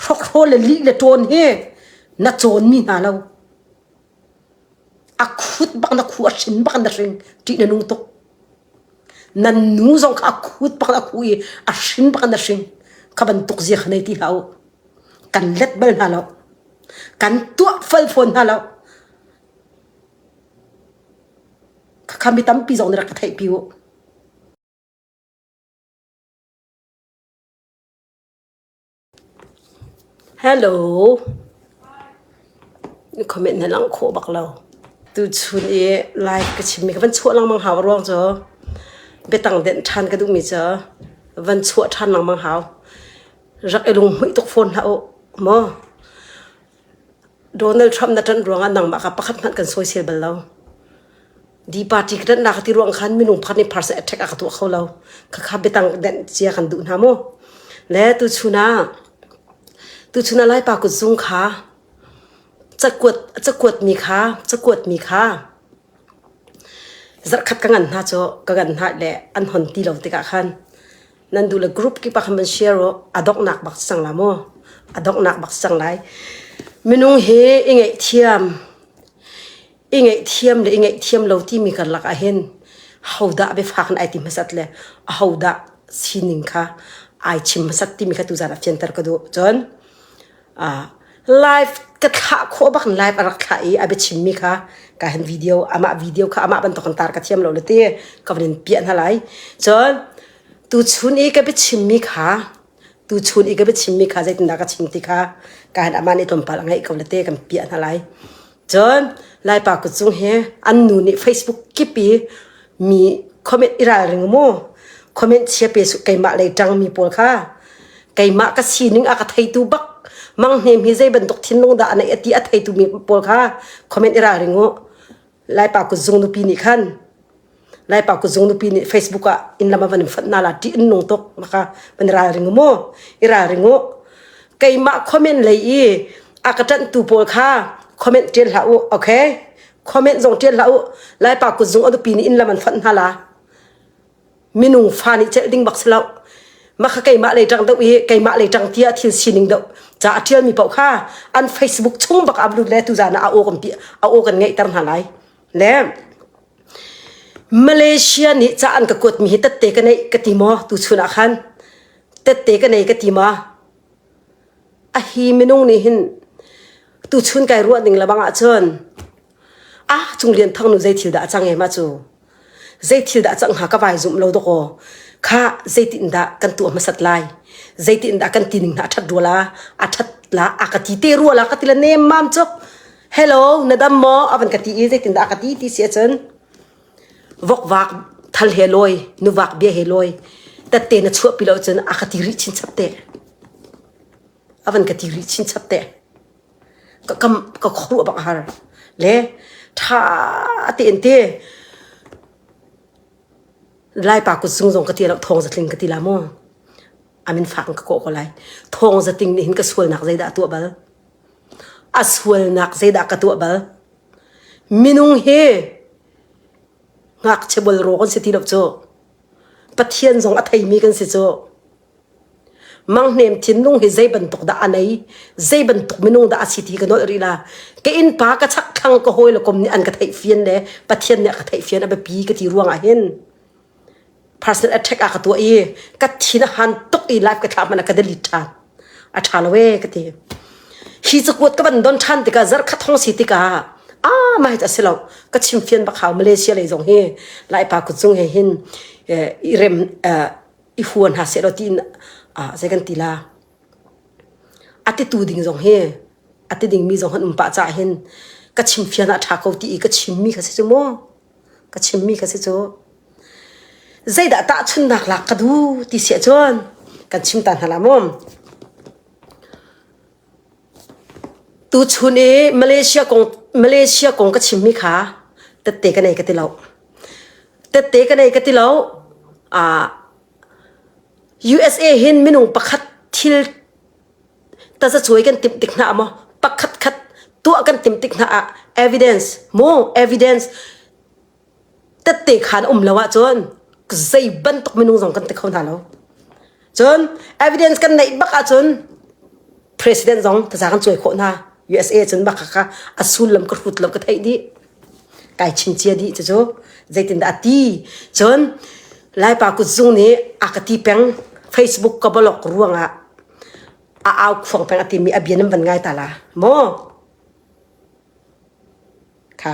Hrokhaw le lih le ṭawn hi na cawnmi hna lo. A khut bak na khu a hrin bak in na hring ṭih na nung tuk. Nan nu zong kha a khut bak in a khu i a hrin bak in na hring. Kha bantuk zia kha nei ti hlah u. Kan let bal hna lo. Kan tuah fal fawn hna lo. Khakha mi tampi zong nih rak ka theihpi u. Hello. Comment na lang khawh bak lo. Tuchun i live ka chimmi ka van chuah lengmang hau ruang cu biatang denh ṭhan ka duhmi cu van chuah ṭhan lengmang hau. Rak i lunghmuih tuk fawn hlah u maw. Donald Trump na ṭanh ruangah nangmah kha pakhat hmanh kan sawisel bal lo. Di party ka ṭanhnak ka ti ruang khan minung pakhat nih person attack a ka tuah kho lo. Khakha biatang nenh cia kan duh hna mu. Le tuchun ah tuchun ah Laipa kutzung kha cakuat cakuat mi kha cakuat mi kha zarhkhat ka ngan hna cu ka ngan hna le an hon ti lo tikah khan nan du le group ki pa khan van share u a donghnak bak sang la mu a donghnak bak sang lai minung he i ngeih thiam i ngeih thiam le i ngeih thiam lo ti mi karlak ah hin hodah be fak na ai ti hmasat le a hodah sining kha ai chim hmasat ti mi kha tu zan a fianter ka du cun live ka thlah khawh bak in live a rak thlah i a biachimmi kha ka han video amah video kha amah bantuk in tar ka thiam lo le ti ka van in piah hna lai cun tu chun i ka biachimmi kha tu chun i ka biachimmi kha zeitindah ka chim ti kha ka han amah nih tlawmpal a ngaih ko le te kan piah hna lai Cun Laipa ka cung he an nu nih Facebook kip i mi comment i ralring mu. Comment chia pe su keimah lei ṭangmi pawl kha. Keimah ka sining a ka theitu bak Mang Hnem hi zei bantuk thinlung dah a neih a ti a theitu mi pawl kha comment i ralring u. Laipa kut zung nupi nih khan lai pa ku zung nupi nih facebook ah in lama van in fat na la ti in nung tok maka van ral ring mo i ral ring u keimah comment lei i akatan tu pawl kha comment tian hla u okay comment zong tian hla u lai pa ku zung adupi ni in laman fat na la minung fa ni chel ding bakslo maka keimah lei tang deuh i keimah lei tang tia thil sining deuh cha atial mi pau kha an facebook chung bak ablu le tu zana a o kan pi a o kan ngei tar na lai le Malaysia nih ca an ka kuatmi hi tette ka neih ka ti maw tuchun ah khan? Tette ka nei ka ti maw? A hi minung nih hin tuchun kai ruah ning lebang ahcun ah Cung Lian Thang nu zei thil dah a cang e ma cu? Zei thil dah a cang hnga ka vai zumh lo dawk aw. Kha zeitin dah kan tuah hmasat lai? Zeitin dah kan tining hna a ṭhat rua la? A ṭhat la? A ka ti te rua la? Ka ti la nem mam cuk. hello na dam maw avan ka ti i zeitin dah ka ti ti si ahcun vokvak thal he lawi nuvak bia he lawi tatte na chuah pi lo cun a ka ti rih chin chap te avan ka ti rih chin chap te ka kam ka khru abang har le tha te in te lai pa ku sung zong ka ti lo thong zatling ka ti la mo amin fak ka ko ko lai thong zating ni hin ka sual nak zei dah tu bal A sualnak zeidah ka tuah bal? Minung hi ngakchia bolraw kan si ti lo cu. Pathian zong a theimi kan si cu. Manghnem thinlung hi zei bantuk dah a nei? Zei bantuk minung dah a si ti ka nolh rih la. Ka innpa ka chakthlang ka hawi le kom nih an ka theih fian le Pathian nih a ka theih fian a biapi ka ti ruangah hin personal attack a ka tuah i ka thin a han tuk i live ka thlah man a ka delete than a tha lo e ka ti hi cu kuat ka ban don than tikah zar kha thong si tikah a mai ta si lo ka chim fian bak hau Malaysia lei zong hi lai pa ku chung he hin i rem i huan ha se lo tiin zei kan ti la a ti tu ding zong hi a ti ding mi zong han um pah ca hin ka chim fian a tha ko ti i ka chim mi ka si cu mu ka chimmi ka si cu zeidah tahchunnak lak ka duh ti si ahcun kan chim ta hna la maw tuchun i malaysia kong malaysia kong ka chimmi kha tette ka nei ka ti lo tette ka nei ka ti lo ah usa hin minung pakhat thil Tasa suai kan tim tik hna ah maw pakhat khat tuah kan tim tik hna ah evidence mu evidence tette khan um lo ah cun zei bantuk minung zong kan te kho hna lo cun evidence kan neih bak ah cun president zong tasa kan cuai khawh hna USA cun bak kha a sullam ka hrut lo ka theih dih kai chim cia dih cu cu zeitindah a ti cun laipa kutzung nih a ka ti peng facebook ka bolok ruangah a au khuang peng a timi a bia nan van ngai ta la maw kha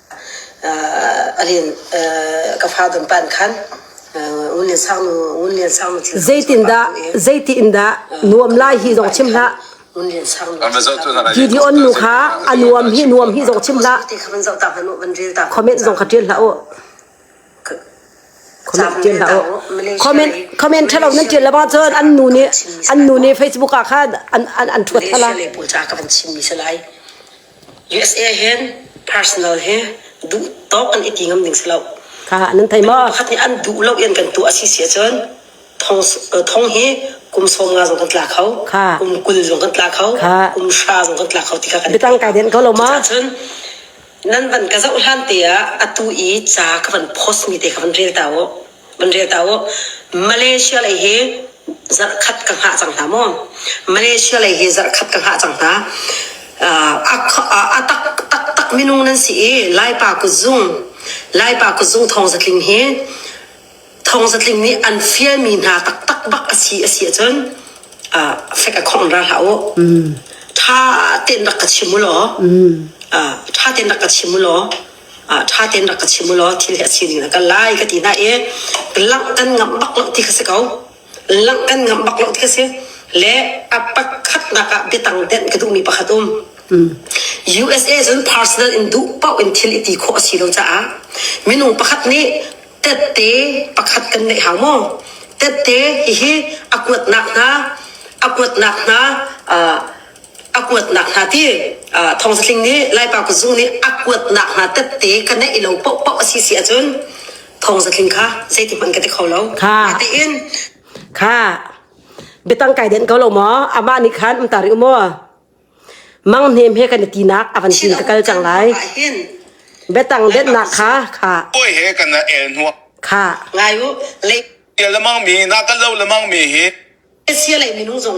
Zeitindah zeiti in dah nuam lai hi zong chim hlah. Gideon nu kha a nuam hi nuam hi zong chim hlah. Comment zong ka ṭial hlah u. comment thalo nan tial lama cun an nu nih an nu nih Facebook ah khan an an thuat thala le bu ca ka van chim mi salai USA hen personal he duh tawk an iti ngam ding salo ka nan thai ma khat ni an duh lo yan kan tu asi sia cun thong thong hi kum som nga zong kan tla kho kum kul zong kan tla kho kum sha zong kan tla kho ti ka kan bitang kai den ko lo ma nan van ka zoh hlan te ah atu i ca ka van post mi te kha van rel ta u van rel ta u Malaysia lei hi zarh khat ka hngah cang hna maw Malaysia lei hi zarh khat ka hngah cang hna a tak taktak minung nan si i Laipa kuzung Laipa kuzung thawng zatling hi thawngsatling nih an fialmi hna taktak bak asi asi ahcun uh, fek a khong ra hlah u tha ten rak ka chim u law uh, tha ten rak ka chim u law uh, tha ten rak ka chim u law thil hi a sining na kal lai ka ti na e ka langh kan ngam bak lo ti ka si ko langh kan ngamh bak lo ti a si le a pakhatnak ah biatang denh ka duhmi pakhat um USA cun personal in duh paoh in thil i ti khawh a si lo caah minung pakhat nih tette pakhat kan neih hau maw tette hihi a kuatnak hna a kuatnak hna a kuatnak hna ti thong zatling nih laipa ku zu nih a kuatnak hna tette ka neih lo poh poh asi si ahcun thong zatling kha zeiti hmanh ka ti kho lo kha tiin kha betang kai den ko lo maw ama ni khan um tari umo mang hnem he kan ti nak avan tin takal chang lai betang den nak kha kha koi he kana el nuwa kha ngai u le sia lamang mi na ka lo lamang mi hi sia lei minung zong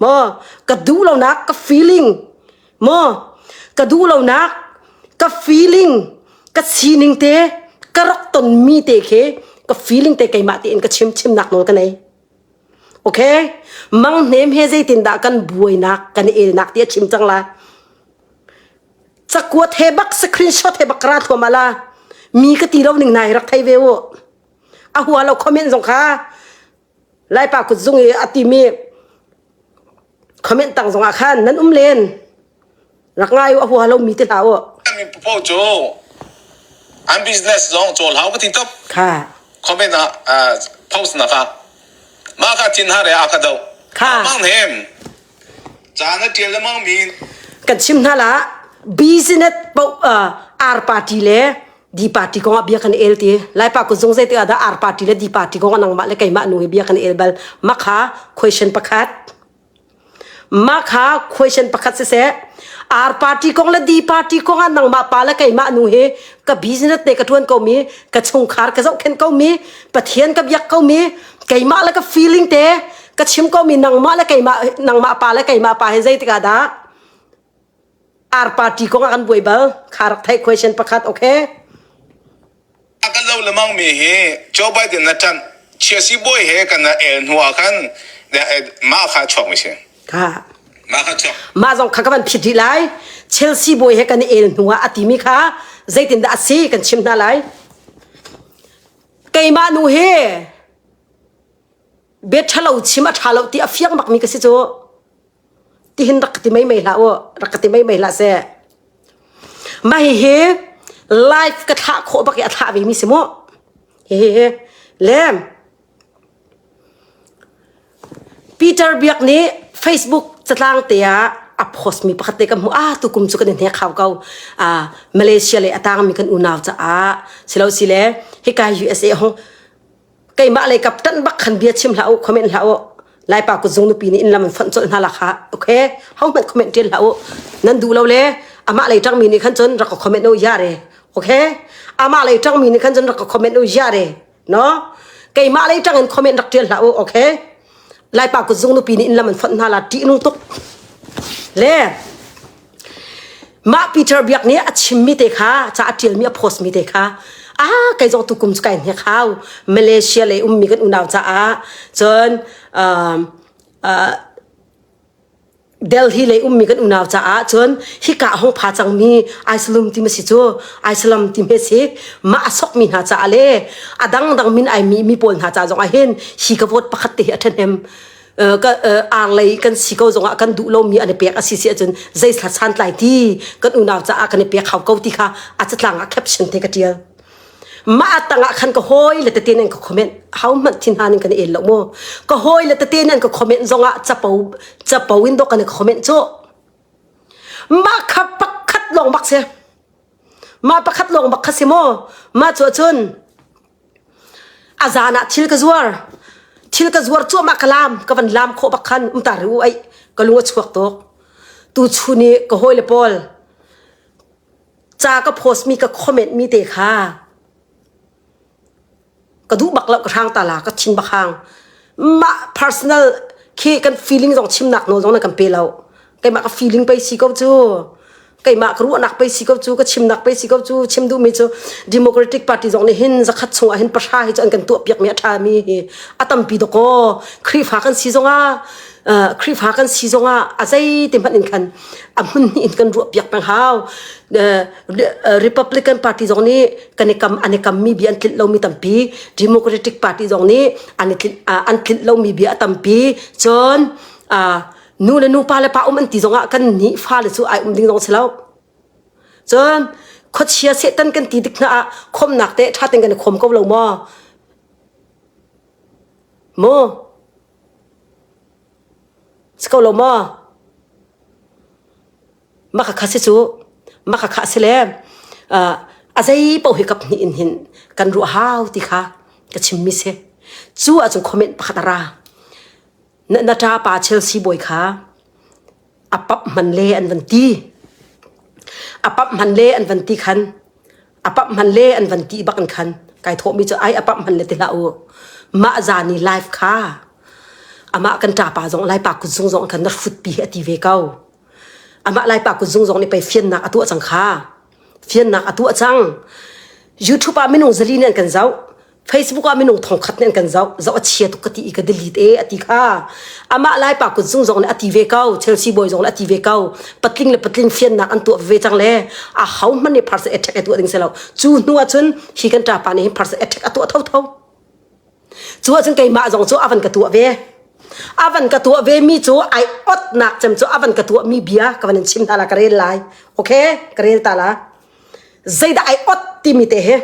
maw ka duh lonak ka feeling maw ka duh lonak ka feeling ka sining te ka rak ton mi te khi ka feeling te keimah te in ka chim chimnak nawl ka nei okay mang hnem he zeitin dah kan buainak kan elnak ti a chim cang la cakuat he bak screenshot he bak ra thuam ala mi ka ti lo ning nai rak thei ve u a hua lo comment zong kha Laipa kut zung i a timi comment tang zongah khan nan um len rak ngai u a hua lomi te hlah u po cu an business zong cawl hau ka ti top kha comment ah post na ka ma ka tin ha re a ka do kha mang nem cha na tial le mang min kan chim hna la business po ar party le di party kong ah bia kan el ti laipa ku zung zei te ada ar party le di party kong anang mah le keimah nu hi bia kan el bal makha question pakhat makha question pakhat se se ar party kong le di party kong an nang ma pa le keimah nu he ka business ne ka tuan ko mi ka chungkhar ka zau khen ko mi pathian ka biak ko mi keimah le ka feeling te ka chim ko mi nang ma le keimah nang ma pa le keimah pa he zei tika da ar party kong ah kan buai bal kha rak theih question pakhat okay a kan lo lemang mi hi Joe Biden na tan chiasi boy he kan na el hnu ah khan ma kha chok mi si ka ma kha chok ma zong kha kan phit hi lai Chelsea boy he kan el hnu ah ati mi kha zeitin da asi kan chim na lai keima nu he be thalo chima thalo ti afiang bak mi ka si chu tihin rak ka ti meimei hlah u rak ka ti meimei hlah seh ma hihi live ka thlah khawh bak i a thlah ve mi si mu hihi le Peter Biak nih Facebook catlang te ah a post mi pakhat te ka hmu ah tu kum chu kan in he khau ko a Malaysia le atang mi kan unau ca ah silo sile hikai USA hong keimah le kap tan bak khan bia chim hlah u comment hlah u lai pa kuzung nupi nih in lam an fonh colh hna lakha okay hau hmat comment ṭil hlah u nan duh lo le amah lei ṭang mi nih khan cun rak ka comment u ya re okay amah lei ṭang mi nih khan cun rak ka comment u ya re no keimah lei ṭang in comment rak ṭil hlah u okay Laipa kut zung nupi nih in lam an fonh hna la ṭih nu tuk le mah Peter biak nih a chimmi te kha ca a ṭialmi a postmi te kha a kai zong tukum cu kai hnek hau Malaysia lei ummi kan unau caah cun uh, uh, Delhi lei ummi kan unau caah cun hika hong pha cangmi Aisalum ti ma si cu Aisalam ti me si mah a sokmi hna caah le a dangdang min ai mi mi pawl hna caah zongah hin hi ka vote pakhat te hi a ṭhahnem ar lei kan si ko zongah kan duh lomi an i pek a si si ahcun zei santlai ti kan unau caah kan i pek hau ko ti kha a catlang ah caption te ka ṭial ma tangah khan ka hoi le tete nan ka comment hau mat thin han kan el lo mo ka hoi le tete nan ka comment zongah chapo chapo in do kan ka comment cho ma kha pakhat long bak se ma pakhat long bak kha se mo ma chu chun azana thil ka zuar thil ka zuar chu ma kalam ka van lam kho bak khan umta ru ai ka lunga chuak tok tu chuni ka hoi le pol ca ka post mi ka comment mi te kha ka duh bak lo ka hrang ta la ka thing bakhang ma personal khi kan feeling zong chimnak no zong na kan pe lo keimah ka feeling pe si ko chu keimah ka ruahnak pe si ko chu ka chimnak pe si ko chu chim duh mi chu democratic party zong nih hin zakhat chungah hin pahra hi chu an kan tuah piak mi a tha mi hi a tampi doko khrifa kan si zong a Khrihfa kan si zongah a zeiti hmanh in khan a hmun in kan ruah piak peng hau. Republican party zong nih kan i kam an i kammi bia an tlinh lomi tampi. Democratic party zong nih an i tlinh an tlinh lomi bia a tampi. Cun nu le nupa le pa um an ti zongah kan nih fale cu ai um ding zong si lo. Cun khuachia setan kan ti dik hna ah khomnak te tha ten kan i khom ko lo maw? Maw? Si ko lo maw? Makakha si cu. Makakha a si le uh, a zei paoh hi kap hnih in hin kan ruah hau ti kha ka chimmi si. Cu ahcun comment pakhat a ra. Na, na ṭapa Chelsea bawi kha a pap man le an van ti a pap man le an van ti khan a pap man le an van ti bak in khan kai thawhmi cu ai a pap man le ti hlah u mah zani live kha amah kan ṭapa zong lai pa kut zung zong khan na hrut pi a ti ve ko amah lai pa kut zung zong nih pei fiannak a tuah cang kha fiannak a tuah cang youtube ah minung zali nih an kan zoh Facebook ah minung thongkhat nen kan zoh zoh a chia tuk ka ti i ka delete e ati kha amah lai pa kun sung zong ne ati ve ko Chelsea boy zong ne ati ve ko patling le patling fiannak an tuah ve chang le a hau man ne pharse attack atu ding selo chu hnu a chun hi kan ta pa ne hi pharse attack atu tho tho chu a chun kai ma zong chu avan ka tuwa ve avan ka tuwa ve mi chu ai ot nak chem chu avan ka tuwa mi bia ka van chim ta la ka rel lai okay ka rel ta la zaida ai ot ti mi te he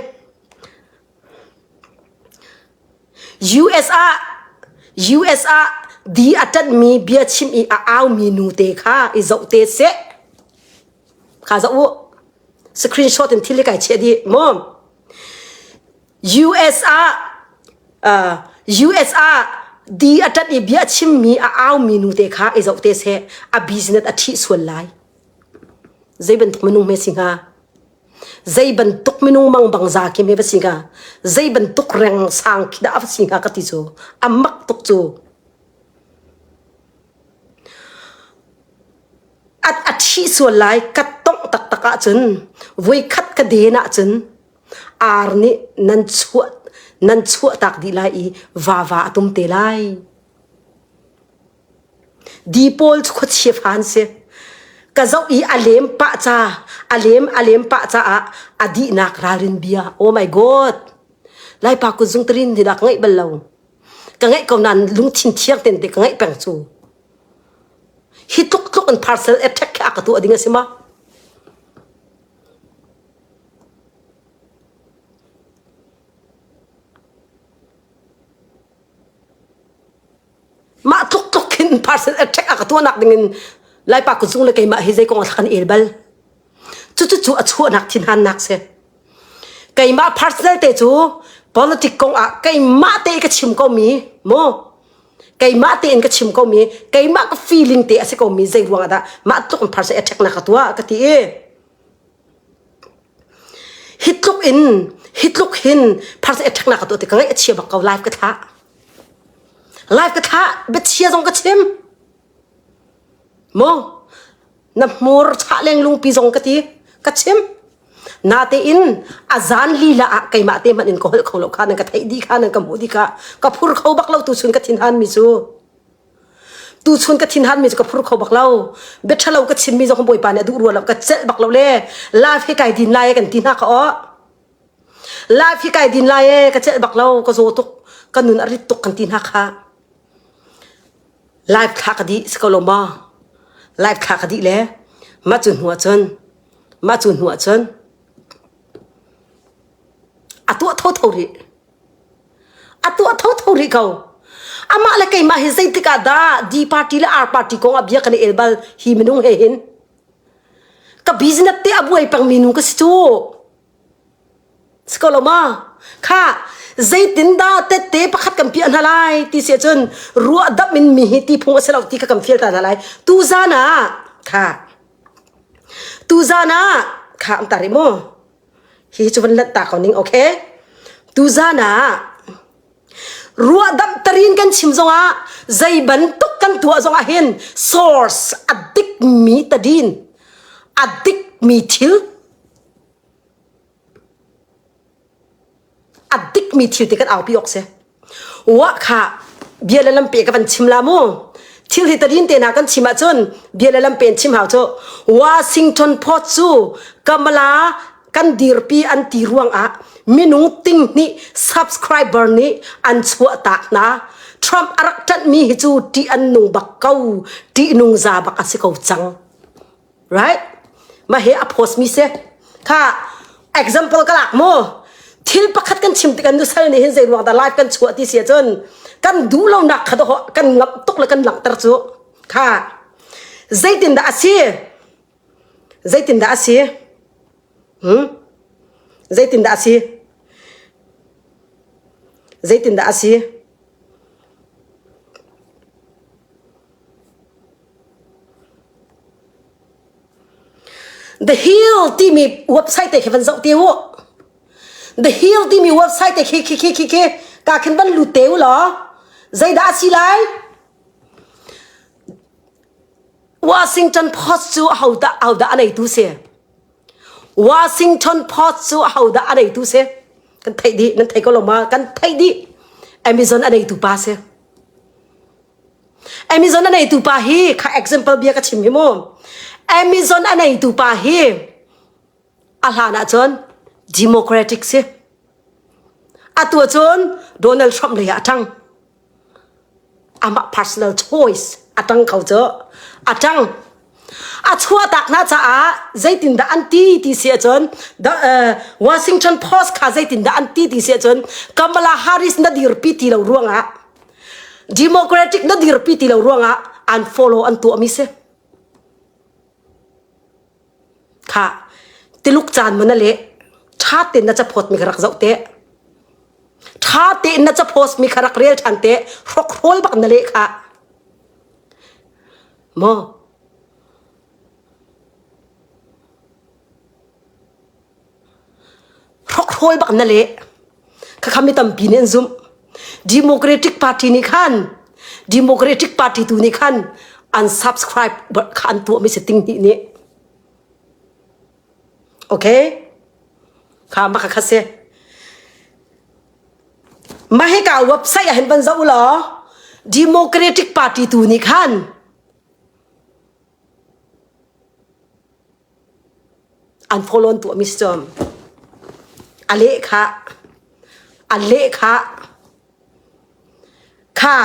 US ah di a ṭanhmi bia chim i a aumi nute kha i zoh te seh. Kha zoh u. Screenshot in thil hi kai chiah dih maw? US ah uh, US ah di a ṭanh i bia chimmi a aumi nute kha i zoh te seh. A business a ṭhih sual lai. Zei bantuk minung hme si hnga? zei bantuk minung mang bang za kim hi va singa zei bantuk reng sang khi da va singa ka ti cu amak tuk cu at athi sual lai kat tong tak tak ah cun voi khat ka den ah cun ar nih nan chuah nan chuah tak di lai i va va atum te lai Di pawl cu khuachia fa an si. Ka zoh i a lem pah ca, a lem a lem pah caah a dihnak ralrin bia, oh my god, Laipa kutzung tarin dinak ka ngeih bal lo. Ka ngeih ko nain lungthin thiang ten te ka ngeih peng cu. Hi tluk tluk in parcel attack kha ka tuah ding a si ma? mah tluk tluk khin person attack a ka tuanak dingin laipa kutzung le keimah hi zeikong a thlakan el bal cucu cu a chuahnak thinhan nak si keimah personal te cu politic kong ah keimah te ka chim ko mi mo keimah te in ka chim ko mi keimah ka feeling te a si ko mi zei ruang ah dah mah tluk in person attack na ka tua ka ti i hi tluk in hi tluk hin pharsa attack na ka to te ka ngai achia bak ko live ka tha live ka tha bechia zong ka chim mo na hmur cha leng lung pi zong ka ti ka chim na te in azan lila a keima te man in ko hol kho lo kha nan ka thei di kha nan ka mu di kha ka phur kho bak lo tu sun ka thin han mi su tu chun ka thin han mi chu ka phur kho bak lo beṭhalo ka chim mi zong bawi pa nih a duh rual ka cel bak lo le life hi kai din lai kan ti hna ka o life hi kai din lai e ka cel bak lo ka zo tuk ka nun arit tuk kan ti hna kha life thla ka di si ko lo ma life thla ka di le ma chun hua chun ma chun hua chun a tua tho tho ri a tuah tho tho rih ko amah le keimah hi zeitik ah dah D party le R party kong ah bia kan i el bal hi minung he hin ka business te a buai pang mi nu ka si cu siko lo ma kha zeitin dah tette pakhat kan piah hna lai ti se cun ruah dap in mi hi ti phung a si lo ti ka kan feel ta hna lai tu zan ah kha tu zan ah kha am ta ri mu hi cu van lat ta ko ning okay tu zan ah ruahdamh tarin kan chim zongah zei bantuk kan tuah zongah hin source a dik mi tadin a dik mi thil a dik mi thil ti kan aupi ok se wa kha bia le lampe ka van chim la mu thil hi tadin te na kan chim ahcun bia le lampe chim hau cu Washington Post cu kamala kan dirpi an ti ruang ah minung ting nih subscriber nih an chuah tak na Trump arak ṭanh mi hi cu ṭih an nung bak ko ṭih nung za bak a si ko cang right ma he a post mi se kha example ka lak mo thil pakhat kan chim ti kan du sal ni hin zei ruang da live kan chuah ti sia chun kan du lo nak kha ho kan ngam tuk le kan langter chu kha zeitin da asi zeitin da asi hmm zeitin da asi zeitin da asi The Hill timi website te khi van zoh te u The Hill timi website te khi khi khi khi khi ka khin van lut te u law zeidah a si lai Washington Post cu ho dah ho dah a neitu si Washington Post cu ho dah a neitu si kan theih dih nan thei ko lo ma kan theih dih Amazon a neitu pa si Amazon a neitu pa hi kha example bia ka chim hi mu Amazon a neitu pa hi a hlan ah cun democratic si atu cun Donald Trump lei ah a ṭang amah personal choice a ṭang ko cu a ṭang a chuahtak na caah zeitindah an ti ti si ahcun the uh, Washington Post kha zeitindah an ti ti si ahcun Kamala Harris na dirpi ti lo ruangah Democratic na dirpi ti lo ruangah unfollow an tuahmi si kha tiluk caan mana le tha ten na chapot mi rak zau te tha te na chapost mi kharak rel than te hrok rol bak na le kha Maw? Hrawi bak na leh. Khakham mi tampi nih an zumh. Democratic party nih khan Democratic party tu nih khan unsubscribe kha an tuah mi se ting hnih nih. Okay? Kha ma ka kha se. Mah hi ka website ah hin van zoh law Democratic Party tu nih khan an follow an tuah mi si cawm. A lehkha a lehkha kha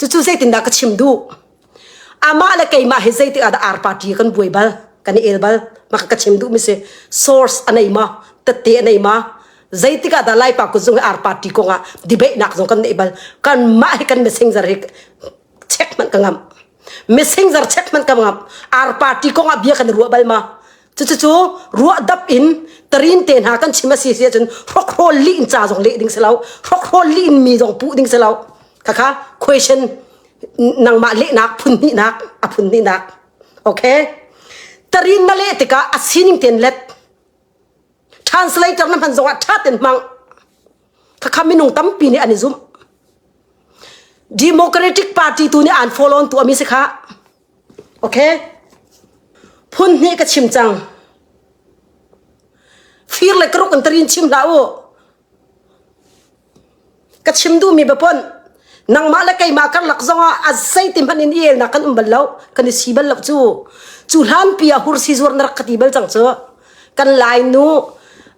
Cucu zeitindah ka chim duh? Amah le keimah hi zeitik ah dah ar party kan buai bal? Kan i el bal? Maka ka chim duh mi si. Source a nei ma? Tette a nei ma? Zeitik ah dah Laipa kuzung hi ar party kong ah debate-nak zong kan nei bal? Kanmah hi kan messenger hi check man ka ngam. Messenger check man ka ngam. Ar party kong ah bia kan i ruah bal ma? cucu ruahdap in tarin te hna kan chim a si si ahcun hrokhrol li in ca zong leh ding si lo hrokhrol li in mi zong puh ding si lo khakha question nangmah lehnak phun hnihnak a phun hnihnak okay tarin na leh tikah a sining ten let translator na hman zongah tha ten hmang khakha minung tampi nih an i zum democratic party tu nih an follow on tu ami si kha Phun hnih ka chim cang. Fir le karuk in tarin chim hlah u. Ka chim duhmi baponh nangmah le keimah karlak zongah a zeiti hmanh in i elnak kan um bal lo kan i si bal lo cu cu hlanpi ah hursi zuar na rak ka ti bal cang cu kan lai nu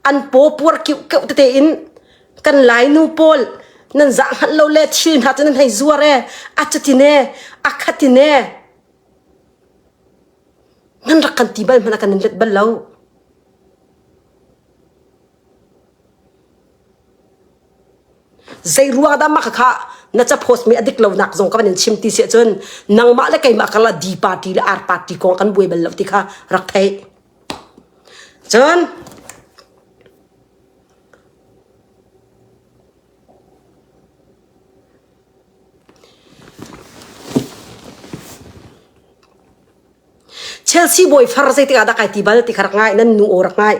an paw puar keuh keuh tete in kan lainu pawl nan zah hngalh lo le thil hna cu nan hei zuar e a cutine a khatine nan rak kan ti bal hmana kan let bal lo zei ruang dah maka kha na ca post mi adik lo nak zong ka van in chim ti se cun nangmah le keimah kala d party le r party kong kan buai bal lo ti kha rak thei cun Chelsea boy far zei tikah dah kai ti bal ti khar ngai nan nu or ngai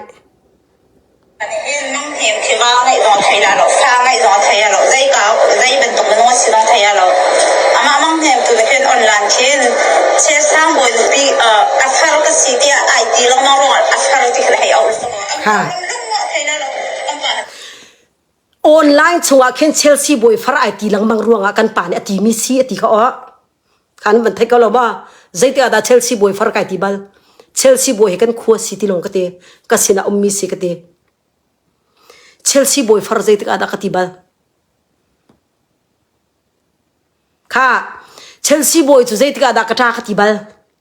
Online chungah khin Chelsea bawi far ai ti lengmang ruangah kan pa nih a ti mi si a ti ka o kan van thei ko lo ba zeite ada Chelsea bawi far kai ti bal Chelsea bawi he kan khua si ti long ka te ka sina um mi si ka te Chelsea boy far zeitik ada ka ti bal kha Chelsea boy chu zeitik ada ka ta ka ti bal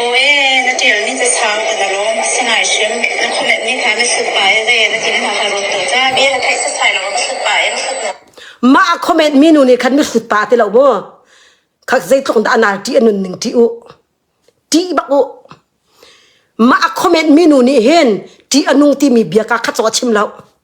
Aw e, na ṭialmi casang na lawm a si ngai hrim. Na khuamenhmi kha na hrut pah i zei na tin hna kha rawt dawh cang. Bia na theih setsai lo, hrut pah in hrut na Mah a khomenhmi nu nih khan na hrut pa ti lo maw? Kha zeitluk in dah a nal ṭih a nun ning ṭih u. Ṭih bak u. Mah a khomenhmi nu nih hin ṭih a nung timi bia ka kha caw a chim lo.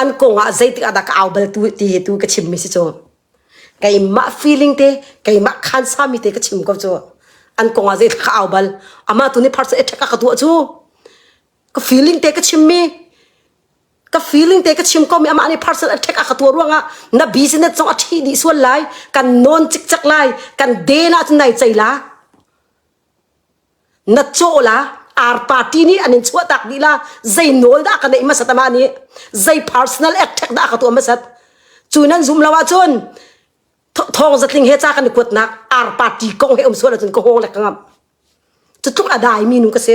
an kong ah zeitik ah dah ka au bal tu ti tu ka chim mi si cu keimah feeling te keimah khan sa mi te ka chim ko cu an kong ah zeitik ka au bal ama tu ni pharsa ethak ka tu chu ka feeling te ka chim mi ka feeling te ka chim ko mi ama ni parcel attack aka to ruanga na business chong athi di sual lai kan non chik chak lai kan de na chu nai chaila na caw la ar party nih an in chuah tak ni la zei nawl dah ka neih masat ama nih zei personal attack dah ka tuah masat cu nan zum lo ahcun thong zatling he ca kan i kuat nak ar party kong he um sual ahcun ka hawng le ka ngam cu tluk a dai mi nu ka si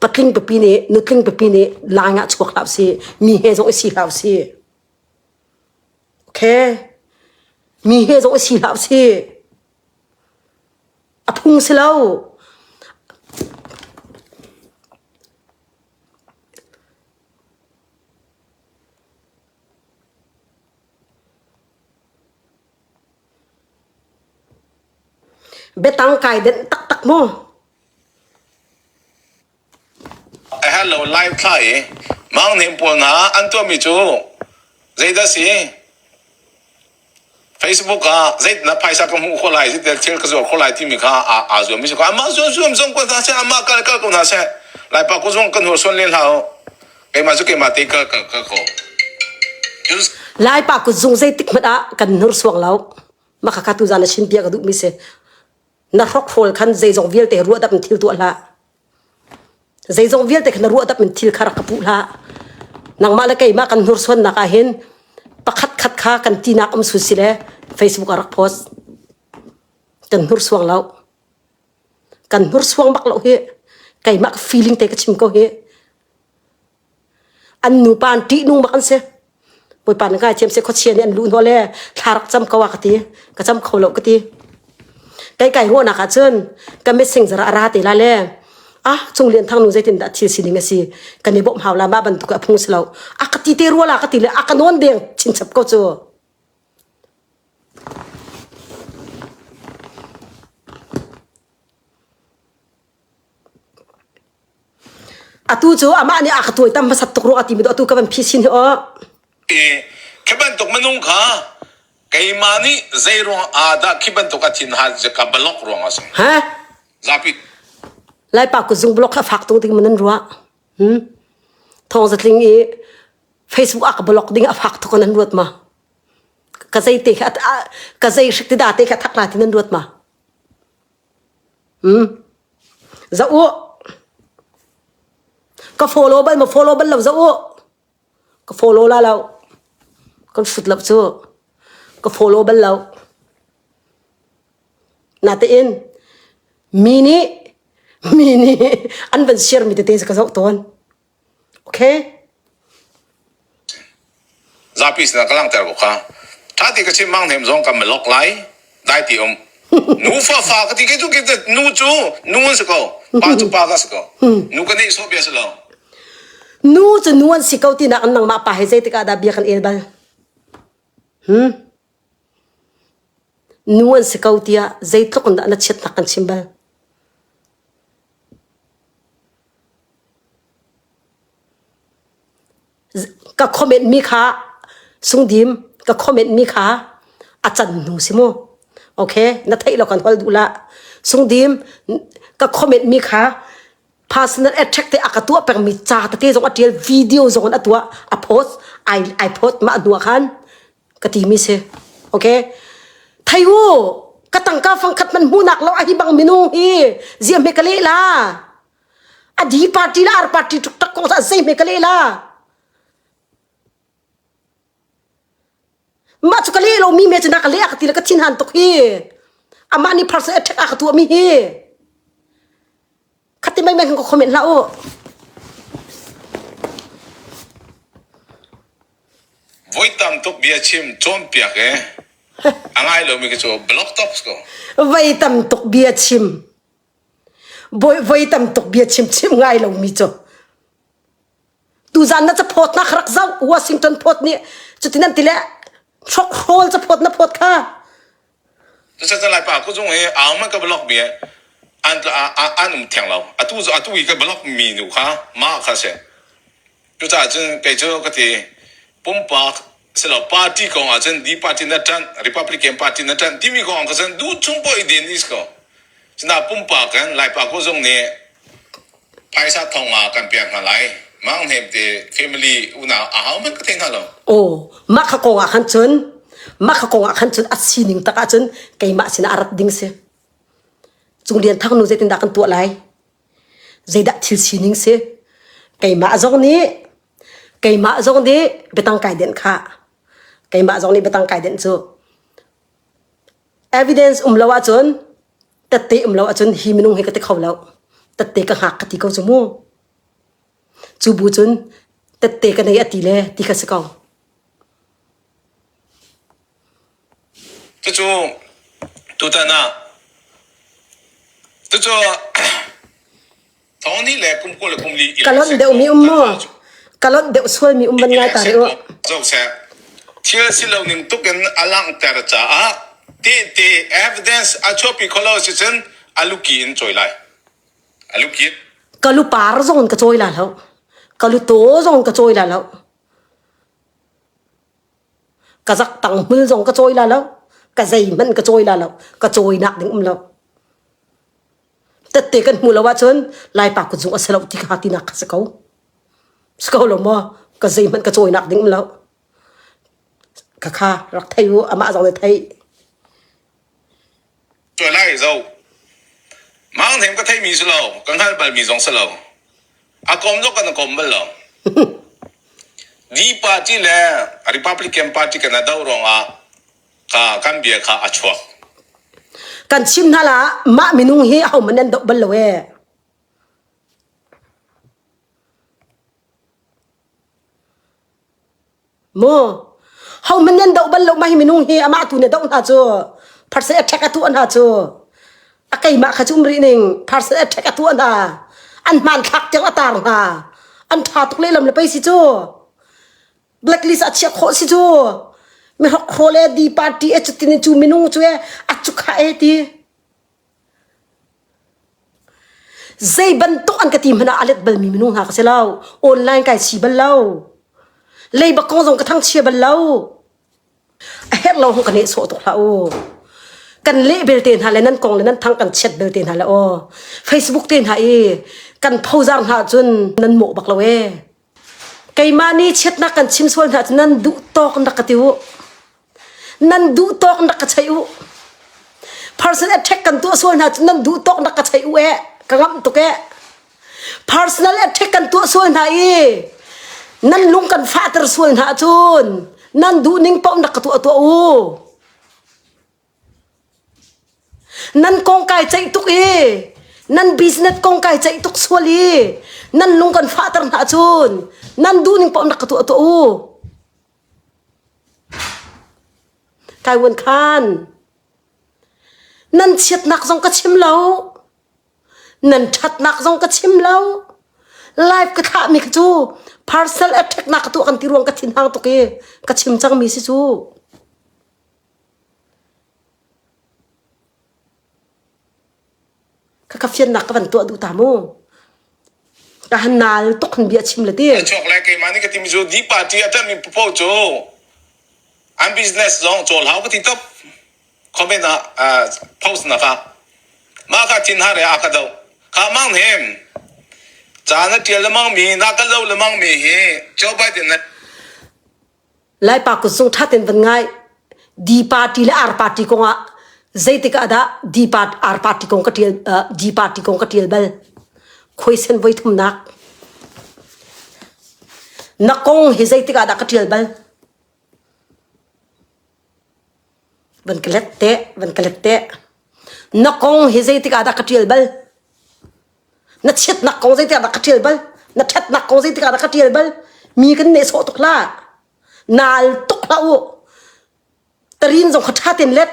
patling pipi nih nutling pipi nih line ah chuak hlah si mi he zong i si hlah si okay mi he zong i si hlah si a phung si lo betang kai den tak tak mo A herh lo lai thla i manghning pawl hna an tuahmi cu zeidah a si? Facebook ah zeitin na phaisa ka hmuh khawh lai, zeitin thil ka zuar khawh lai timi kha aa, aa zuammi si ko. Amah zuamzuam zong ko hna seh, amah kal kal ko hna seh. Laipa ku zong kan hursuan len hlah u. Keimah cu keimah te kal kal kal ko. Laipa kut zung zeitik hmanh ah kan hnursuang lo. Maka ka tu zan a sin bia ka duhmi si. na hrokhrol khan zeizong vialte ruahdap in thil tuah hlah zeizong vialte khan ruahdap in thil kha rak ka puh hlah nangmah le keimah kan hnursuannak ah hin pakhat khat kha kan tinak um su sile facebook a rak post kan hnursuang lo kan hnursuang bak lo hi keimah feeling te ka chim ko hi an nupa an ṭihnung bak an si bawipa na ngai thiam se khuachia nih an lu hnawh le thlarak cam ko a ka ti ka cam kho lo ka ti kei kai huahnak ah cun ka messing zara ra te la le ah chung lian thang nu zeitin dah thil sining a si kan i bawmh hau la ma bantuk a phung si lo a ka ti te rual a ka ti le a ka non deng chin chap ko cu Atu cu amah nih a ka thawitam hmasat tuk rua a timi atu ka van phi sin hi aw. I khi bantuk minung kha keimah nih zeiruang ah dah khi bantuk a thinhan ka balok ruang a si. Ha? Zapi Laipa kutzung blog kha fak tuk ding manan rua. Hmm? Thawng zatling i Facebook ah ka blog ding a fak tuk nan ruat ma. Ka zei te kha ka zei hrik ti da te kha thak na ti nan ruat ma. Za u, ka follow bal maw follow bal lo za u. Ka follow la lo. Kan hrut lo cu. Ka follow bal lo. Natein mi nih mi nih an van share mi tete ka zoh tawn. Zapi sinah ka langhter ko kha. Ṭha ti ka chim manghnem zong kan malok lai. Dai ti um. Nufa fa ka ti keitu keitu nu cu nu an si ko. Pa cu pa ka si ko. Nu ka nehsawh bia si lo. nu cu nu an si ko tinak nangmah pa he zeitik ah dah bia kan el bal? Hm? Nu an si ko tiah zeitluk in dah na chiatnak kan chim bal? Ka comment mi kha sungdim ka comment mi kha a can hnu si mu. Okay na theih lo kan hol duh la. Sungdim ka comment mi kha personal attack te aka tuah pengmi ca tete zong a tial video zong a tuah a post ai ai post ma hnuah khan ka ti mi si okay thayu ka tangka fangkhat man hmunak lo a hi bang minung hi zia me kale la adi party la ar party tuk tak kong sa sei me kale la Mah cu ka le lomi me cu na ka leh ka ti le ka thinhan tuk hi. Amah nih pharsa attack a ka tuahmi hi. Khati mai mai kan ka comment hlah u. Voi tam tuk bia chim cawnpiak i a ngai lomi khi cu blog talks ko. Voi tam tuk bia chim. Voi voi tam tuk bia chim chim ngai lomi cu. tuzan na caphawt na rak zau washington phawt ni cutin an tile hrok hrawl caphawt na phawt kha tu sa lai pa ku chung i ang man ka block bi an an um theng lo atu zu atu i ka block mi nu kha ma kha se tu ta cun kei cu ka ti pumpak silo party kong ah cun di party na ṭanh republican party na ṭanh timi kong ah cun duh chung pawh i din is ko cina pumpak kan laipa ko zong nih phaisa thong ah kan piak hna lai mang hnem te family unau a hau man ka thei hna lo oh maka kong ah khan cun maka kong ah khan cun a sining tak ah cun keimah sinah a rat ding si cung lian thang nu zeitin dah kan tuah lai Zeidah thil sining si? Keimah zong nih keimah zong nih biatang kai denh khah. Keimah zong nih biatang kai denh cu. Evidence um lo ahcun tette um lo ahcun hi minung hi ka ti kho lo. Tette ka hngak ka ti ko cu mu. Cu bu cun tette ka nei a ti le ti ka si kong. Ka lonh deuh mi um maw? Ka lonh deuh sual mi um van ngai ta rih u. Thil si lo ning tuk in a langhter caah tehte evidence a chuahpi khawh lo si cun a luki in cawi lai. A lukit. Ka lu par zong in ka cawi la lo. Ka lu taw zong in ka cawi la lo. ka zak tang hmul zong ka cawi la lo ka zei hmanh ka cawi la lo ka cawi nak ding um lo tette kan hmu lo ahcun lai pa ku zung a si lo ti kha tinak ka si ko si ko lo maw ka zei hmanh ka cawi nak ding um lo ka kha rak thei u amah zong ne thei Cuan ah i zoh. Mangtheng ka theimi si lo, ka hngalh balmi zong si lo. A kom zong kan i kom bal lo. Dihparty le Republican Party kan a doh ruangah ka, kan bia kha a chuak. Kan chim hna la, mah minung hi ahohmanh an doh bal lo ee. Maw hohmanh nan doh bal lo ma hi minung hi amah tu nih a doh hna cu pharsa attack a tuah hna cu a keimah kha cu um rih ning pharsa attack a tuah hna an hmanthlak tiang a taar hna an ṭha tuk lehlam le pei si cu blacklist a chiah khawh si cu mihrok haw le di party e cutin i cu minung cu e a cukha e ti Zei bantuk an ka ti hmanh ah a let balmi minung hna ka si lo. Online kai si bal lo. Leiba kong zong ka thangchia bal lo. A herh lo hong ka neh sawh tuk hlah u. Kan leh belte hna le nan kong le nan thang kan chet belte hna le aw. Facebook te hna i kan phozar hna cun nan mawh bak lo ee. Keimah nih chiatnak kan chim sual hna cu nan duh tawk in rak ka ti u. Nan duh tawk in rak ka cheih u. Personal attack kan tuah sual hna cu nan duh tawk in rak ka cheih u eh. Ka ngamh tuk eh. Personal attack kan tuah sual hna i nan lung kan fahter sual hna cun nan duhning paoh in rak ka tuah tuah u. Nan kong kai ceih tuk i nan business kong kai ceih tuk sual i nan lung kan fahter hna cun nan duhning paoh rak ka tuah tuah u. Kai Wuan Khan, nan chiatnak zong ka chim lo, nan ṭhatnak zong ka chim lo. Life ka thlahmi cu personal attack na ka tuah kan ti ruang ka thinhang tuk i ka chim cangmi si cu. Khakha fiannak ka van tuah duh ta mu. Ka han nal tuk han bia chim le ti. Ka chuak lai keimah nih ka timi cu di party a ṭammi popo cu an business zong cawl hau ka ti top comment ah ah, post na ka mah ka thin hare a ka do kha mang hnem caan a ṭial lemang mi na ka lo lemang mi hi Joe Biden na Laipa kun sung ṭha tein van ngai. Di party le ar party kong ah zeitik ah dah di part, ar party kong ka ṭial, uh, di party kong ka ṭial bal. Khuaisen voi thumnak. Na kong hi zeitik ah dah ka ṭial bal. Van ka let te, van ka let te. Na kong hi zeitik ah dah ka ṭial bal. na chiatnak ko zeitik ah dah ka ṭial bal na ṭhatnak ko zeitik ah dah ka ṭial bal mi kan nehsawh tuk la nal tuk hlah u tarin zong kha ṭha ten let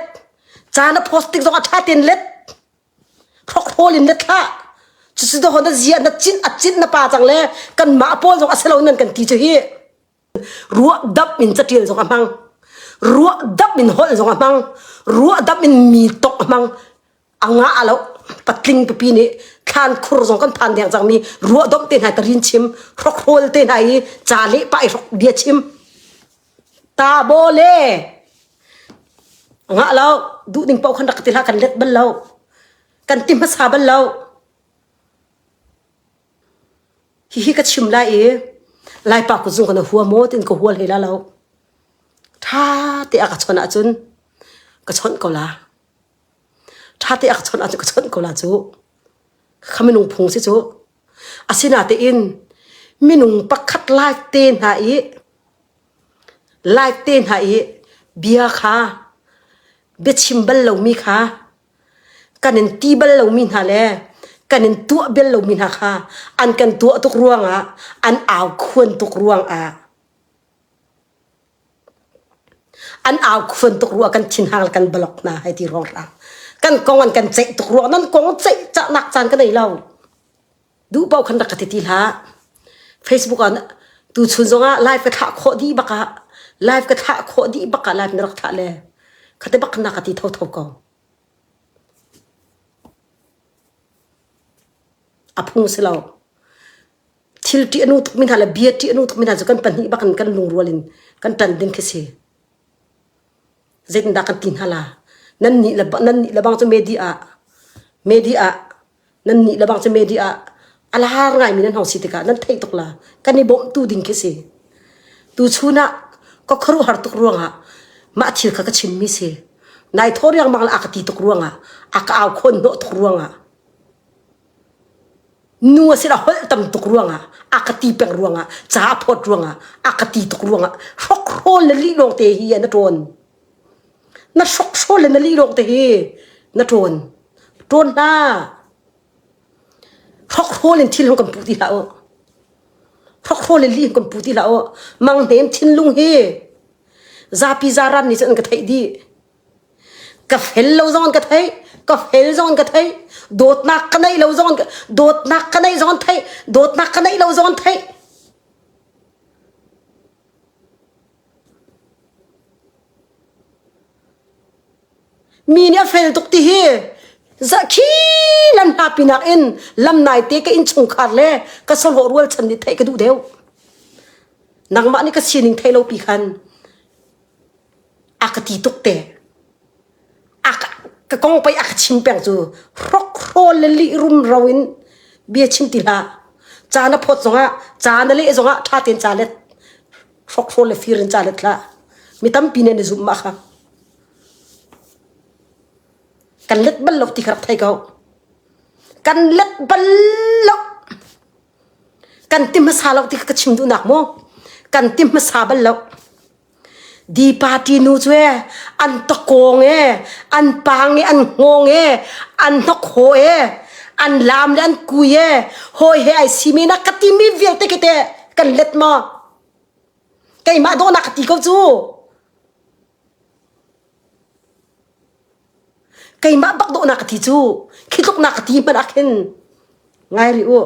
ca na post tik zong a ṭha ten let hrokhrol in let hlah cusi da hon na zia na cin a cin na pa cang le kan mah pawl zong a si lo nan kan ti cu hi ruahdap in catial zong a hmang ruahdap in holh zong a hmang ruahdap in mi tok a hmang anga a lo patling pipi nih thlan khur zong kan phan deng cangmi ruahdop te hna tarin chim hrokhrol te hna i ca le pa i hrok dia chim ta bo le nga lo duh ding pau khan rak ti la kan let bal lo kan ti hmasa bal lo Hihi ka chim lai i Laipa kutzu kan hua maw tiin ka hua hlei la lo. Ṭha te a ka chawnh ahcun ka chawnh ko la. Ṭha te a ka chawnh ahcun ka chawnh ko la cu. Khakha minung phung si cu. Asinatein minung pakhat lai te hna i lai te hna i bia kha biachim bal lomi kha kan in ti bal lomi hna le kan in tuah bel lomi hna kha an kan tuah tuk ruangah an au khuan tuk ruangah an au khuan tuk ruang kan thinhang le kan balok hna hai ti rong rang kan kong an kan ceih tuk ruang nan kong ceih cahnak caan ka nei lo duh paoh khan rak ka ti ti hlah facebook ah tu chun zong ah live ka thlah khawh dih bak ah live ka thlah khawh dih bak ah live na rak thlah le khate bak na ka ti tho tho ko a phung si lo thil ṭi anu tuk min hna le bia ṭi anu tuk min hna cu kan pahnih bak in kan lungrual in kan ṭan ding khi si zeitindah kan ti hna la nan nih le nan nih le bang cu media media nan nih lebang cu media ah a lar ngaimi nan hong si tikah nan theih tuk la kan i bawmh tu ding khi si tu chunah ka kharu har tuk ruangah mah thil kha ka chimmi si nai thor yang mang la aka ti tuk ruangah aka au khon no tuk ruangah nu a sila hol tam tuk ruangah aka ti peng ruangah cha phot ruangah aka ti tuk ruangah hrok rol le li long te hi an a ton na hrokhrol le na lilawng te hi na ṭawn ṭawn hna hrokhrol in thil ho kan puh ti hlah u hrokhrol in li kan puh ti hlah u manghnem thinlung hi zapi zaran nih cun an ka theih dih ka fel lo zong an ka theih ka fel zong an ka theih dawtnak ka neih lo zong dawtnak ka neih zong an theih dawtnak ka neih lo zong an theih Mi nih a fel tuk ti hi zakhi lan hna pinak in lam nai te ka inn chungkhar le ka savawh rual chan nih theih ka duh deuh nangmah nih ka sining thei lo pi khan a ka ti tuk te ka kong pei a ka chim peng cu hrok hrawl le lih rum ro in bia chim ti hlah ca na phawt zongah ca na leh zongah ṭha tein ca let hrok hrawl le fir in ca let hlah mi tampi nih na zumh ma kha kan let bal lo ti ka rak thei ko kan let bal lo kan ti hmasa lo ti ka chim duh nak mu kan ti hmasa bal lo di party nu cu e an to kong e an pang e an ngong e an hnok ho e an lam le an kui e hoi he ai si mi na ka ti mi vialte ke te kan let ma keimah do na ka ti ko cu keimah bak dawhnak ka ti cu khi tluknak ka ti hmanh ah khin ngai rih u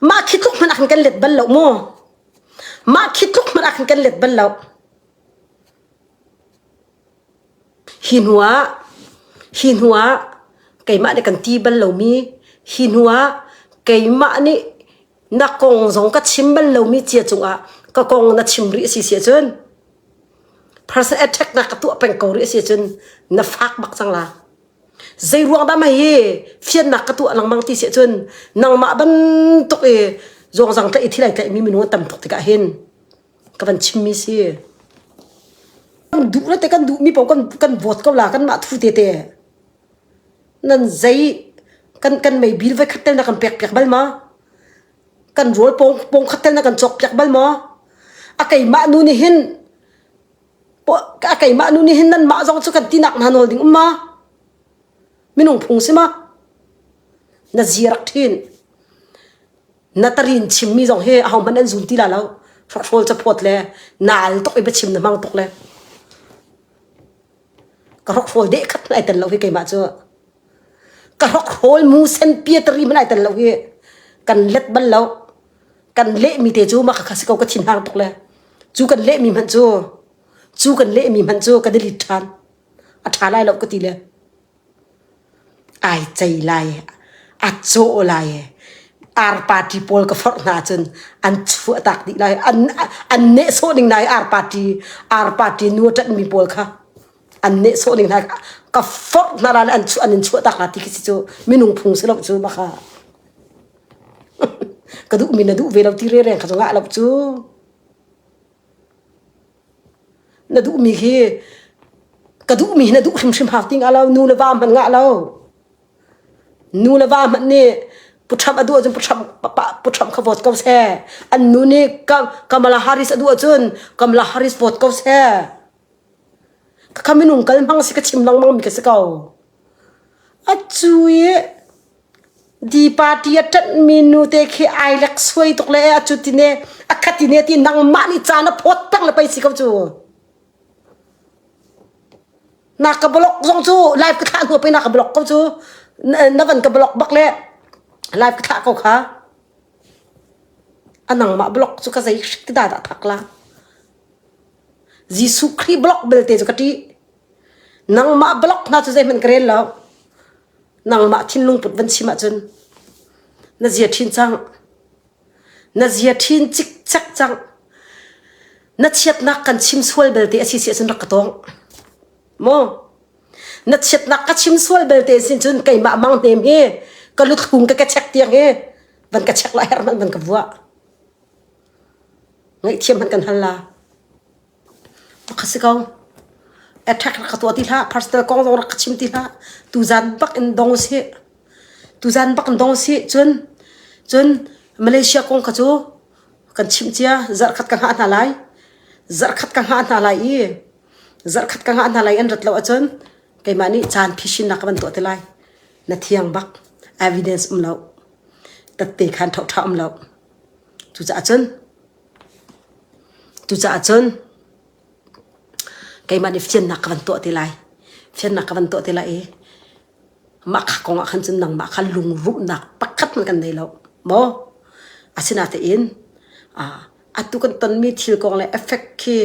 mah khi tluk hmanh ah khin kan let bal lo mu mah khi tluk hmanh ah khin kan let bal lo hi hnu ah hi hnu ah keimah nih kan ti bal lomi hi hnu ah keimah nih na kong zong ka chim bal lomi cia cungah ka kong na chim rih asi si cun person attack na ka tuah peng ko rih asi cun na fak bak cang la zei ruang dah ma hi fiannak ka tuah lengmang ti si cun nangmah bantuk i zong zang ta i thilai tlaih mi minung tam tuk tikah hin ka van chimmi si kan duh la te kan duh mi pau kan kan vote ko la kan mah thu te te Nan zei kan kan mei bil voikhat tal na kan pek piak bal maw? Kan rawl pawng pawng khat tal na kan cawk piak bal maw? A keimah nu nih hin a keimah nu nih hin nanmah zong cu kan tinak hna nawl ding um ma? Minung phung si ma? Na ziarak ṭhin. Na tarin chimmi zong hi ahohmanh an zun ti la lo. Hrahrol caphawt le naal tuk i biachim na hmang tuk le. ka rok hrawl de khat ai tel lo hi keimah cu ka rok hrawl mu sen pia tari man ai tel lo hi kan let bal lo kan le mi te cu maka kha si ko ka thin hang tuk le cu kan le mi hmanh cu cu kan le mi hmanh cu ka delete than a tha lai lo ka ti le Ai cei lai, a caw lai, Ar party pawl ka forh hna ahcun an chuahtak dih lai. An nehsawh ning lai Ar party, Ar party nu a ṭanhmi pawl kha. An nehsawh ning lai. Ka forh hna lai le an in chuahtak hna ti khi si cu minung phung si lo cu hmaka. Ka duhmi na duh ve lo ti rereng kha cu ngah lo cu. na duhmi khi ka duhmi hi na duh hrimhrim hak ding a lo nu le va hmanh ngah lo nu le va hmanh nih puṭham a duh ahcun puṭham puṭham kha vote ko seh an nu nih Kamala Harris a duh ahcun Kamala Harris vote ko seh khakha minung kal hmang si ka chim lengmang mi ka si ko a cui Di party a ṭanhmi nute khi ai leksuai tuk le a cut i ne, a khat i ne ti nangmah nih caan a phawt peng le pei si ko cu. Na ka blog zong cu live ka thlah hnu pei na ka blog ko cu. Na van ka blog bak le live ka thlah ko kha. A nangmah blog cu ka zei hrik ti da dah thak la. Jesuh Khrih blog belte cu ka ṭih. Nangmah blog hna cu zeihmanh ka rel lo. nangmah thinlung put van chim ahcun na zia ṭhin cang na zia ṭhin cikcek cang na chiatnak kan chim sual belte a si si ahcun rak ka tawng maw na chiatnak ka chim sual belte sin cun keimah mang hnem hi ka luthlung ka ka chek tiang hi van ka chek la her hmanh van ka vua ngaihthiam hman kan hal la Attack rak ka tuah ti hlah, personal kong zong rak ka chim ti hlah. Tuzan bak in dong usih. Tuzan bak in dong usih. Cun, cun Malaysia kong kha cu kan chimh cia. Zarhkhat ka hngah hna lai. Zarhkhat ka hngah hna lai i zarhkhat ka hngah hna lai an rat lo ahcun keimah nih caan phisinnak ka van tuah ti lai. Na thiang bak evidence um lo. Tat te khan ṭhoṭha um lo. Cucaah cun Cucaah cun keimah nih fiannak ka van tuah ti lai. Fiannak ka van tuah ti lai i mah kha kong ah khan cun nangmah kha lungrumhnak pakhat hmanh kan nei lo, maw? Asinatein atu kan tonmi thil kong le effect khi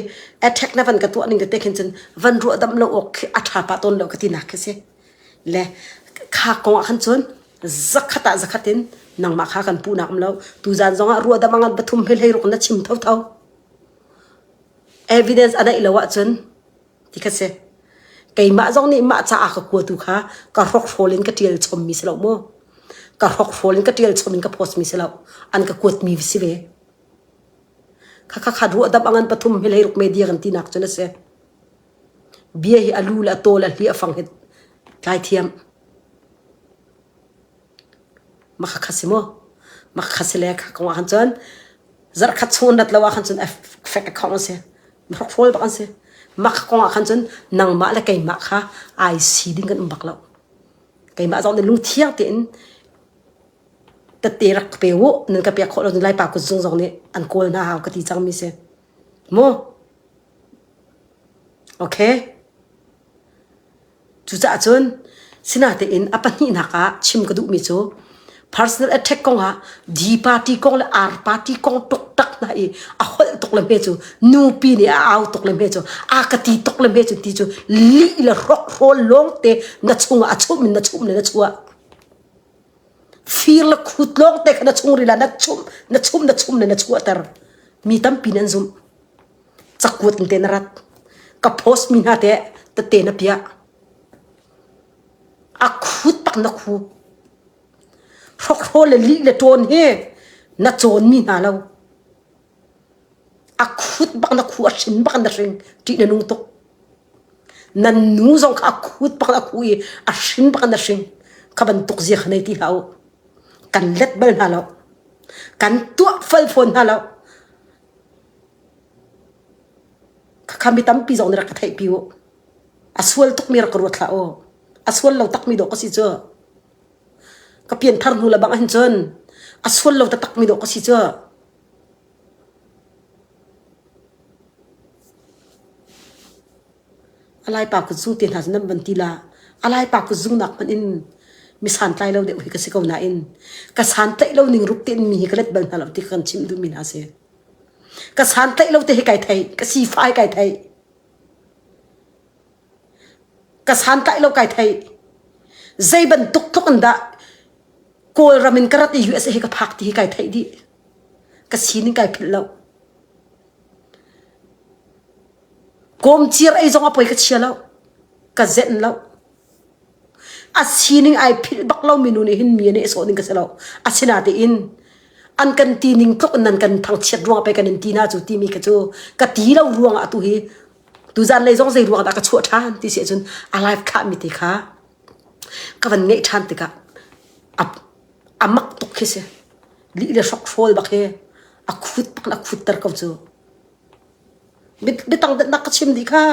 attack na van ka tuah ning tete khin cun van ruahdamh lo awk khi a ṭha pah tawn lo ka tinak khi a si. le kha kong ah khan cun zakhat ah zakhat in nangmah kha kan puhnak um lo tu zan zong ah ruahdam angan pathum hlei hlei ruk na chim tho tho evidence a daih lo ah cun ti khat se keimah zong nih mah ca ka kua tu kha ka hrok hrawl in ka tial chom mi si lo mo ka hrok hrawl in ka tial chom in ka post mi si lo an ka kuat mi si ve kha kha kha ruahdam angan pathum hlei ruk media kan ti nak cun a se Bia hi a lu le a tawl, a hli, a fang hi tlai thiam. Makha kha si maw? Makha kha si le kha kong ahkhan cun zarh khat chung an rat lo ahkhan cun a fek a khawng a si. Hrokhrol bak an si. Makha kong ahkhan cun nangmah le keimah kha ai si ding kan um bak lo. Keimah zong nih lungthiang tein tette rak ka pe u, nan ka pek khawh lo cun Laipa kutzung zong nih an kawl hna hau ka ti cangmi si. Cucaah cun sinatein a pahnihnak ah chim ka duhmi cu personal attack kong ah D party kong le R party kong tuktak hna i a holh tuk le hme cu, nupi nih a au tuk le hme cu, a ka ti tuk le hme cu ti cu lih le hrokhrol lawngte na chungah a chum in na chum le na chuah. fir le khut lawng te kha na chungril ah na chum na chum na chum le na chuahter mi tampi nan zumh cakuat in te na rat ka post mi hna te tete na piah a khut pak na khu hrokro le li le ton he na cawn mi hna lo a khut bak na khu a shin bak na hring ti na nung tuk nan nu zong kha a khut pak a khu i a hrim pak in a hring kha bantuk zia kha nei ti hlah u kan let bal hna lo kan tuah fal fawn hna lo khakha mi tampi zong nih rak ka theihpi u a sual tukmi rak ka ruat hlah u a sual lo takmi dawh ka si cu ka pian thar hnu le bang hin cun a sual lo takmi dawh ka si cu Alaipa ka zu te hna cu nan van ti la. Alaipa ka zu nak hmanh in mi santlai lo deuh hi ka si ko nain ka santlaih lo ning ruk tein mi hi ka let bal hna lo ti kan chim duhmi hna a si. Ka santlaih lo te hi kai thei, ka sifai kai thei. ka santlai lo kai thei zei bantuk tluk in dah kawlram in ka rat i US hi ka phak ti hi kai thei di ka sinin kai philh lo komcir ei zong a poi ka chia lo ka zen lo a sining ai philh bak lo minu nih hin mi nih sawh ning ka si lo asina te in an kan ti ning tluk nan kan thangchiat ruang pe kan in ti na cu timi ka cu ka ti lo ruang ah tu hi tu zan lei zong zei ruang dah ka chuah ṭhan ti si ahcun a live khahmi ti kha ka van ngeih ṭhan tikah a a mak tuk khi si li le hrok hrawl bak hi a khut bak in a khutter ko cu biatang datnak ka chim dih kha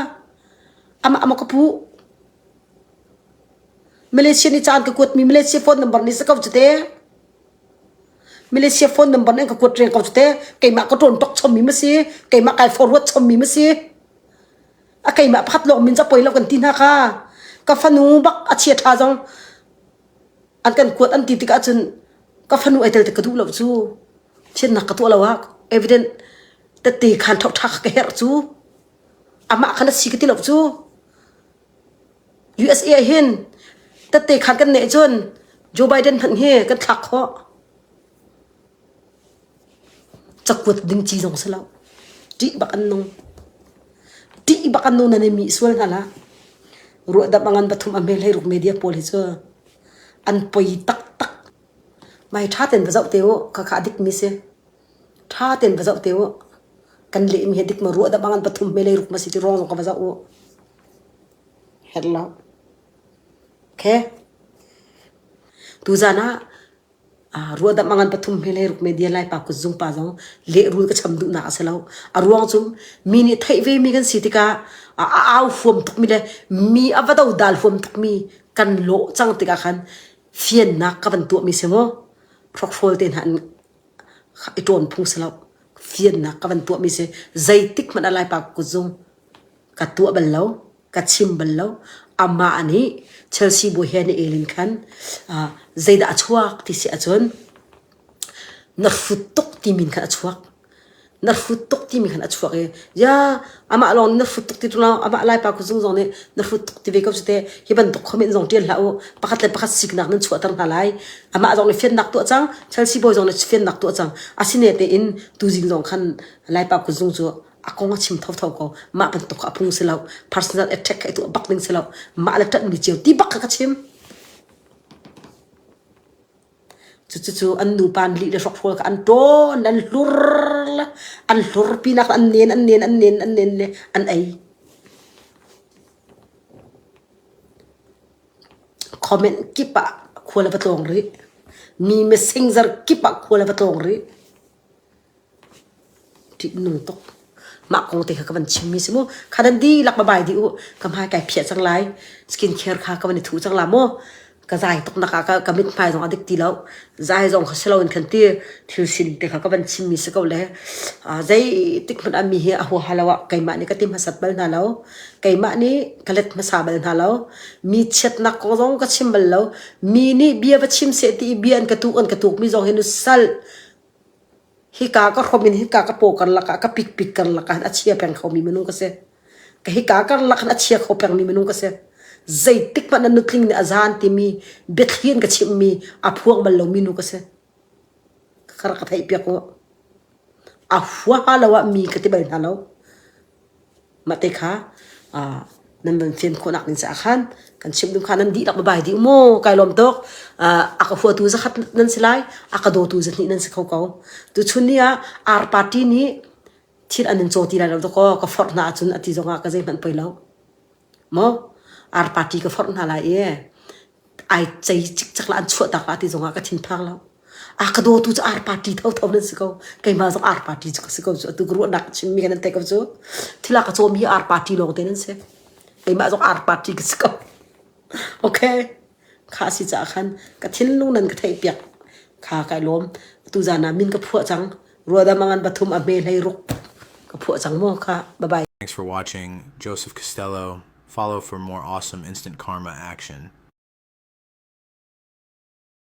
ama ama ka pu Malaysia ni caan ka kuatmi Malaysia phone number ni sa ko cute Malaysia phone number nan ka kuat reng ko cu te keimah ka ṭawn ṭok chommi ma si keimah kai forward chommi ma si a keimah pakhat lawng min cu poi lo kan ti hna ka ka fanu bak a chia ṭha zong an kan kuat an ti tikah cun ka fanu ai tel tik ka duh lo cu thiannak ka tuah lo ah evident tette khaan ṭhawk ṭha ka herh cu amah kha na si ka ti lo cu USA ah hin tatte khan kan neh cun Joe Biden hmanh hi kan thlak khawh cakuat ding ci zong si lo ṭih bak an nung ṭih bak an nung nan i mih sual hna la ruahdamh a ngan pathum a hmel hei ruk media pawl hi cu an poi taktak mai ṭha ten va zoh te u khakha dik mi si Tha ten va zoh te u. Kan lehmi hi dik ma ruah dah bang pathum me lei ruk ma si ti ruang zong ka va zoh u. Her lo. Okay. Tuzan ah uh, ruah dah mangan pathum me lei ruk me dian lai pa kutzung pa zong le rul ka cham duh nak a si lo. A ruang cu mi nih theih ve mi kan si tikah a a au huam tuk mi le mi a va do dal huam tuk mi kan lo cang tikah khan fiannak ka van tuah mi si mu. Hrokhrol te hna an i ṭawn phung si lo. Fiannak ka van tuahmi si zeitik hmanh ah Laipa kutzung ka tuah bal lo, ka chim bal lo. Amah nih Chelsea bawi he na el in khan ah zeidah a chuak ti si ahcun na hrut tuk timi in khan a chuak. na hrut tuk timi khan a chuak i ya amah lawng na hrut tuk ti tu amah lai pa khu zung zong nih na hrut tuk ti ve ko cu te hi bantuk khomin zong tial hlah u pakhat le pakhat siknak nan chuahter hna lai amah zong nih fiannak tuah cang Chelsea boy zong nih fiannak tuah cang asine tein tuzing zong khan lai pa khu zung cu a kong a chim tho tho ko mah bantuk a phung si lo personal attack kai tu bak ning si lo mah le tat mi chiu ti bak ka chim Cucu an nupa nih lih le hrokhrol kha an ṭawn, an hlur, an hlur pinak an nen, an nen, an nen, an nen le an ei. Comment kip ah khua le va tlawng rih. Mi messenger kip ah khua le va tlawng rih. Ṭihnung tuk. Mah kong te kha ka van chimmi si mu. Kha nan dihlak va bai dih u. Ka hmai kai phiah cang lai. Skincare kha ka van i thu cang la maw. Ka zai tuknak ah ka mithmai zong a dik ti lo. Zai zong kha si loin kan ti thil sining te kha ka van chimmi si ko le. Zeitik hmanh ah mi hi a huaha lo ah keimah nih ka ti hmasat bal hna lo. Keimah nih ka let hmasa bal hna lo. Mi chiatnak kong zong ka chim bal lo. Mi nih bia va chim seh ti i bia an ka tuk, an ka tukmi zong hi nu sal. Hika ka hrom in hika ka paw karlak ah ka pikpik karlak ah khan a chia peng kho mi minung ka si. Ka hika karlak khan a chia kho peng mi minung ka si. Zeitik hmanh a nutling nih a zaan timi biathlian ka chimh mi a phuang bal lo mi nu ka si. Ka kar ka theih piak u. A hua lo ah mi ka ti bal hna lo. Mah te kha nan van fim khawhnak ding caah khan kan chimh ding kha nan dihlak va bai dih u maw kai lawm tuk. A ka huatu zakhat nan si lai, a ka dawtu zahnih nan si kho ko. Tuchun ni ah Ar party nih thil an in caw ti lai lo dawkaw ka forh hna ahcun a ti zongah ka zeihmanh poi lo. maw ar party ka forh hna lai i ai cei cikcek la an chuahtak la ti zongah ka thinphang lo. A ka dawtu cu ar party thotho nan si ko. Keimah zong ar party cu ka si ko cu. Atu ka ruahnak chimmi kan nan theih ko cu. Thil a ka cawm hi ar party lawngte nan si. Keimah zong ar party ka si ko. Okay? Kha a si caah khan ka thinlung nan ka theihpiak kha ka i lawm. Atu zaan ah min ka phuah cang. Ruadam angan pathum a hme hlei ruk ka phuah cang maw kha. Bye bye. Thanks for watching. Joseph Costello. Follow for more awesome instant karma action.